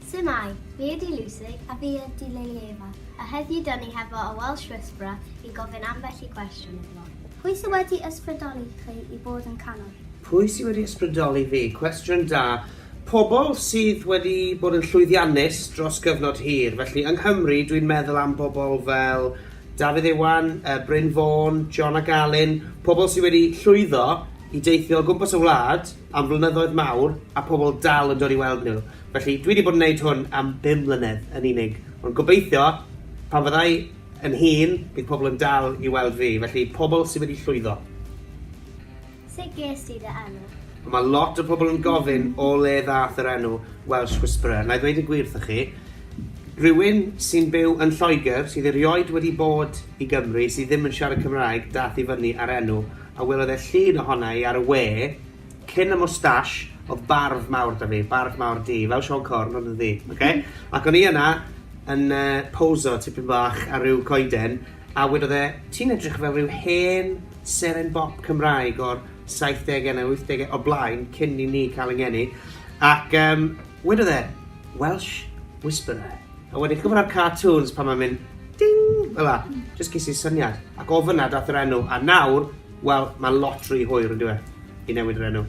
Su'mai, fi ydi Lucy a fi ydi Lilieva a heddiw da ni hefo y Welsh Whisperer i gofyn ambell i gwestiwn iddo. Pwy sy wedi ysbrydoli chi i fod yn canwr? Pwy sy wedi ysbrydoli fi? Cwestiwn da. Pobl sydd wedi bod yn llwyddiannus dros gyfnod hir. Felly, yng Nghymru, dwi'n meddwl am bobl fel Dafydd Iwan, yy Bryn Fôn, John ac Alun, pobl sy wedi llwyddo i deithio o gwmpas y wlad, am flynyddoedd mawr a pobl dal yn dod i weld nhw. Felly, dwi 'di bod yn neud hwn am bum mlynedd yn unig. Ond gobeithio, pan fydda i yn hŷn, bydd pobl yn dal i weld fi. Felly, pobl sy wedi llwyddo. Sut ges ti dy enw? Wel, mae lot o pobl yn gofyn o le ddaeth yr enw Welsh Whisperer. Na i ddweud y gwir wrthoch chi, rhywun sy'n byw yn Lloegr, sydd erioed wedi bod i Gymru, sydd ddim yn siarad Cymraeg, daeth i fyny â'r enw. a welodd e llun ohona i ar y we, cyn y moustache, o'dd barf mawr 'da fi, barf mawr du, fel Siôn Corn ond yn ddu, oce? Ac o'n i yna yn yy poso tipyn bach ar ryw coeden, a wedodd e, ti'n edrych fel ryw hen seren bop Cymraeg o'r saithdege neu wythdege o blaen, cyn i ni ca'l 'yn ngeni, ac yym wedodd e, Welsh Whisperer. A wedyn chi'n gwybod ar cartoons pan mae'n mynd ding fel 'na? Jyst ges i'r syniad. Ac o fan'na daeth yr enw, a nawr, wel, mae'n lot rhy hwyr yn dyw e, i newid yr enw.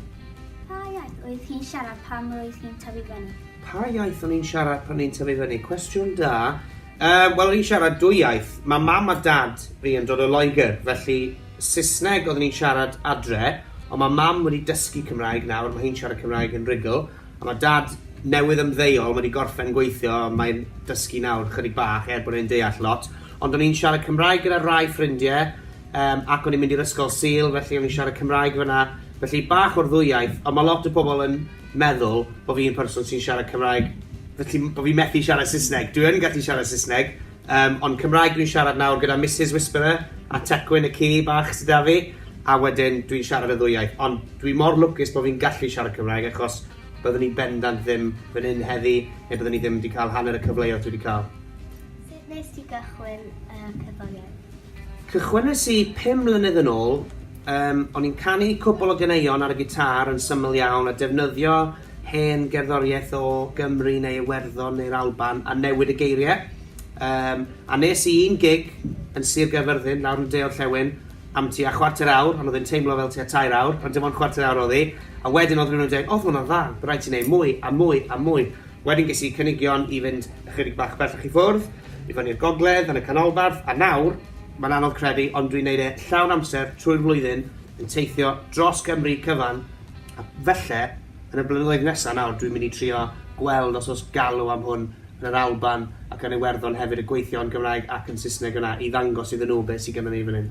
Pa iaith oedd chi'n siarad pan roedd chi'n tyfu fyny? Pa iaith o'n i'n siarad pan o'n i'n tyfu fyny? Cwestiwn da. Yym, wel, o'n i'n siarad dwy iaith. Mae mam a dad fi yn dod o Loegr, felly Saesneg oedden ni'n siarad adre, ond mae mam wedi dysgu Cymraeg nawr, mae hi'n siarad Cymraeg yn rhugl. A mae dad newydd ymddeol wedi gorffen gweithio, mae'n dysgu nawr chydig bach er bod e'n deall lot. Ond o'n i'n siarad Cymraeg gyda rhai ffrindiau yym ac o'n i'n mynd i'r ysgol Sul felly o'n i'n siarad Cymraeg fan'na. Felly bach o'r ddwy iaith ond mae lot o pobl yn meddwl bod fi'n person sy'n siarad Cymraeg felly bo' fi methu siarad Saesneg. Dwi yn gallu siarad Saesneg Yym, ond Cymraeg dwi'n siarad nawr gyda Misus Whisperer a Tecwyn y ci bach sy 'da fi, a wedyn dwi'n siarad y ddwy iaith, ond dwi mor lwcus bo' fi'n gallu siarad Cymraeg achos byddwn i bendant ddim fan hyn heddi, neu byddwn i ddim 'di ca'l hanner y cyfleodd dwi 'di ca'l. Sut wnes ti gychwyn y cerddoriaeth? Cychwynnes i pum mlynedd yn ôl, yym, o'n i'n canu cwpwl o ganeuon ar y gitâr yn syml iawn a defnyddio hen gerddoriaeth o Gymru neu Iwerddon neu'r Alban a newid y geiriau. Um, a nes i un gig yn Sir Gaerfyrddin, lawr yn deol llewyn, am ti a chwarter awr, ond oedd yn teimlo fel ti a tair awr, ond dim ond chwarter awr oedd hi, a wedyn oedd rhywun yn dweud, oedd hwnna'n dda, bydd rhaid ti wneud mwy, a mwy, a mwy. Wedyn ges i cynigion i fynd ychydig bach bellach i ffwrdd, i fyny i'r gogledd, yn y canolbarth, a nawr, mae'n anodd credu, ond dwi'n neud e llawn amser trwy'r flwyddyn, yn teithio dros Gymru cyfan, A falle, yn y blynyddoedd nesa nawr, dwi'n mynd i trio gweld os oes galw am hwn yn yr Alban ac yn Iwerddon hefyd, y gweithio yn Gymraeg ac yn Saesneg yna, i ddangos iddyn nhw beth sydd gennyn ni fan hyn.